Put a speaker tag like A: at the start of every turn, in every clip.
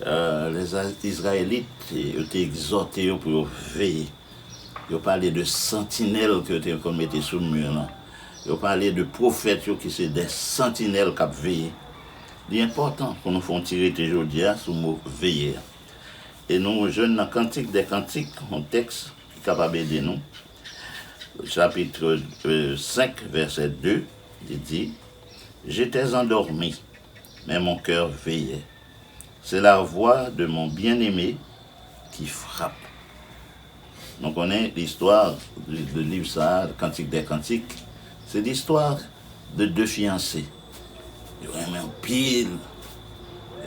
A: Lè Izrayelit yo te egzòte yo pou yo veye, yo pale de santinèl ke yo te konn mete sou mi lan. Yo pale de pwofèt yo ki se de santinèl k ap veye. Li enpòtan pou nou fè yon ti rete jodi a sou mo veye a. E nou jwenn nan Kantik dè kantik yon tèks ki kapab ede nou. Chapitre 5 vèsè 2, li di, J'étais endormi, mais mon cœur veille C'est la voix de mon bien-aimé qui frappe Nou konnen listwa de liv sa a, Cantiques des cantiques, se listwa de 2 fiyanse. Yo renmen anpil.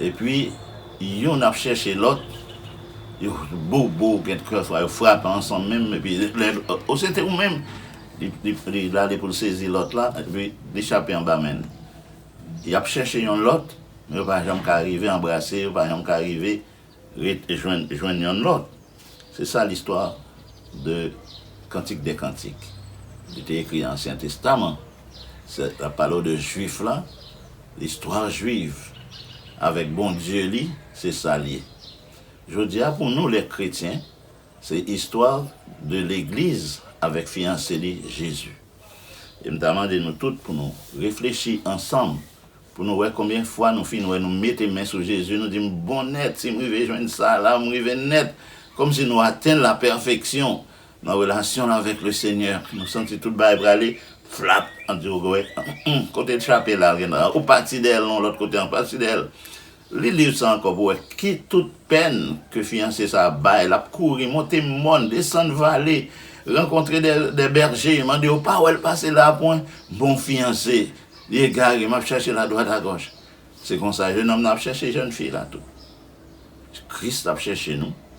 A: Epi, youn ap chèche lòt, yo bobo, gen kè fwa yo frape ansanm menm, epi lè, o se te ou menm! Li, li, li rale pou l sezi lòt la, epi li chape anba men l. Yap chèche yon lòt, men yo pa janm ka rive anbrase, yo pa janm ka rive ret jwenn jwenn yonn lòt. Se sa listwa de Cantique des Cantiques li te ekri nan Ansyen Testaman. Se lap pale w de Jwif la, l'histoire juive avèk Bondye li, se sa l ye. Jodi a pou nou lè kretyen, Se istwa de legliz avèk fiyanse li Jezi. E m ta mande nou tout pou nou reflechi ansanm pou nou wè konbyen fwa nou fin wè nou mete men sou Jezi nou di m bon nèt si m rive jwenn sa la m rive nèt kòmsi nou atenn la pèfeksyon nan relasyon nou avèk le Senyè nou santi tout bagay prale flap an di w gè w humm kote l chape la l gen ou pati dèyè l nan yon lòt kote an pati dèyè l. Li liv sa ankò pou wè ki tout pèn ke fiyanse sa a bay. L ap kouri, monte mòn, desann vale, rankontre dè bèje, mande yo, Pa wè l pase la a pwen? Bon fiyanse! Li egare, m ap chache l adwat agòch. Se konsa, jenòm nan ap chache jèn fi la tou. Kris ap chache nou.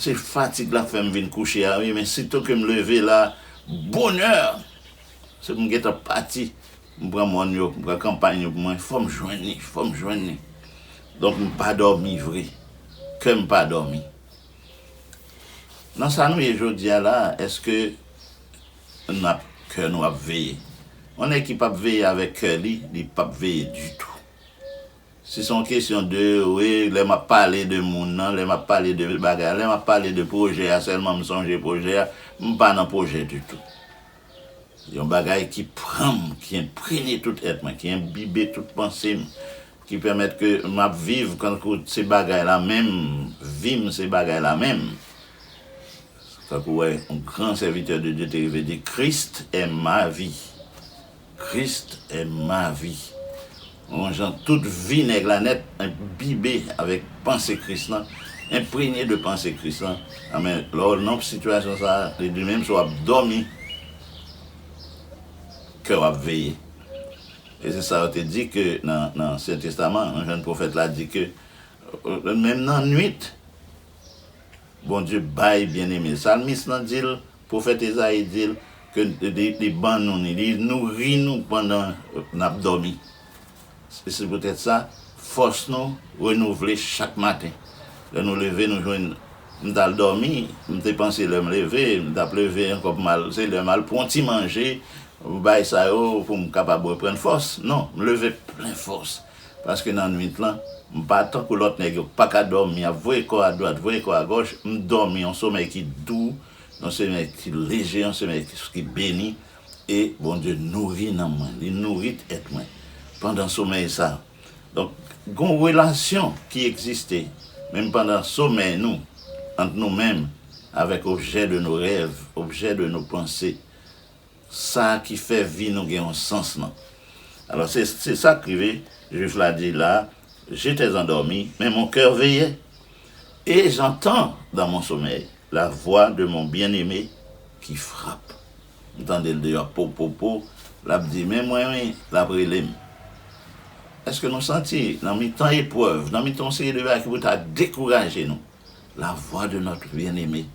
A: Se fatig lap fèm vin kouche a wi men sitou kem leve la bonè se pou m gentan pati m pran mòn yo m pran kanpay yo pou mwen fòm jwenn li fòm jwenn li donk m pa dòmi vre kèm pa dòmi nan sa nou ye jodia la eske nap kè nou ap veye yon nèg ki pap veye avèk kè li li pap veye ditou. Si son kesyon de we lè map pale de moun nan, lè map pale de bagay a, lè map pale de pwojè a sèlman m sonje pwojè a, m pa nan pwojè ditou. Yon bagay ki pran m, ki enprene tout èt mwen, ki enbibe tout panse m, ki pèmèt ke map viv kankou se bagay la menm, vi m se bagay la menm. Tankou yon gran sèvitè de Dye te rive di, Christ est ma vie. Christ est ma vie Yon jan tout vi nèg la nèt enbibe avèk panse Kris lan, enprenye de panse Kris lan, anben lè w nan sitiyasyon sa a, li di menm si w ap dòmi, kè w ap veye. E se sa yo te di ke nan Ansyen Testaman, yon jèn pwofèt la di ke menm nan nuit, Bondye bay byeneme l. Salmis lan di l, Pwofèt Ezayi di l ke li ban nou ni, li nouri nou pandan n ap dòmi. Se poutèt sa, fòs nou renouvle chak maten. Lè nou leve, nou jwenn, M t al dòmi, m te panse lè m leve, m t ap leve ankò pou m al, se lè m al pran yon ti manje, bay sa yo pou m kapab reprann fòs. Non, m leve plen fòs. Paske nan nwit lan, m pa tankou lòt nèg yo, pa ka dòmi, ap voye kò adwat, voye kò agòch, m dòmi yon somèy ki dou, yon somèy ki leje, yon somèy ki beni, e Bondye nouri nanm mwen, li nouri tèt mwen pandan somèy sa. Donk, gen yon relasyon ki egziste, menm pandan somèy nou, ant nou menm avèk objè de nos rêves, objè de nos pensées. Sa ki fè vi nou gen yon sans nan. Alò se se sa k rive, Juif la di la, J'étais endormi, mais mon cœur veillait, et j'entends dans mon sommeil la voix de mon bien-aimé qui frappe. M tande l deyò po po po, l ap di men mwen wi, l ap rele m. Èske nou santi nan mitan eprèv, nan mitan yon seri de bagay ki pou ta dekouraje nou, la voix de notre bien-aimé?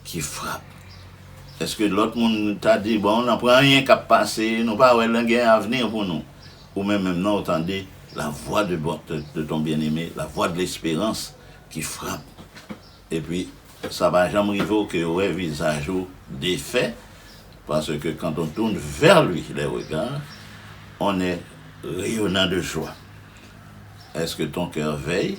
A: Ki frap? Eske lòt moun ta di bon nan pran anyen kap pase nou pa wè nan gen avni pou nou? Ou menm menm nan ou tande la vwa de de ton byen eme la vwa de lesperans ki frap epi sa pa janm rive w ke wè vizaj ou defè pase ke quand on tourne vers lui les regards on est rayonnant de joie eske ton cœur veille?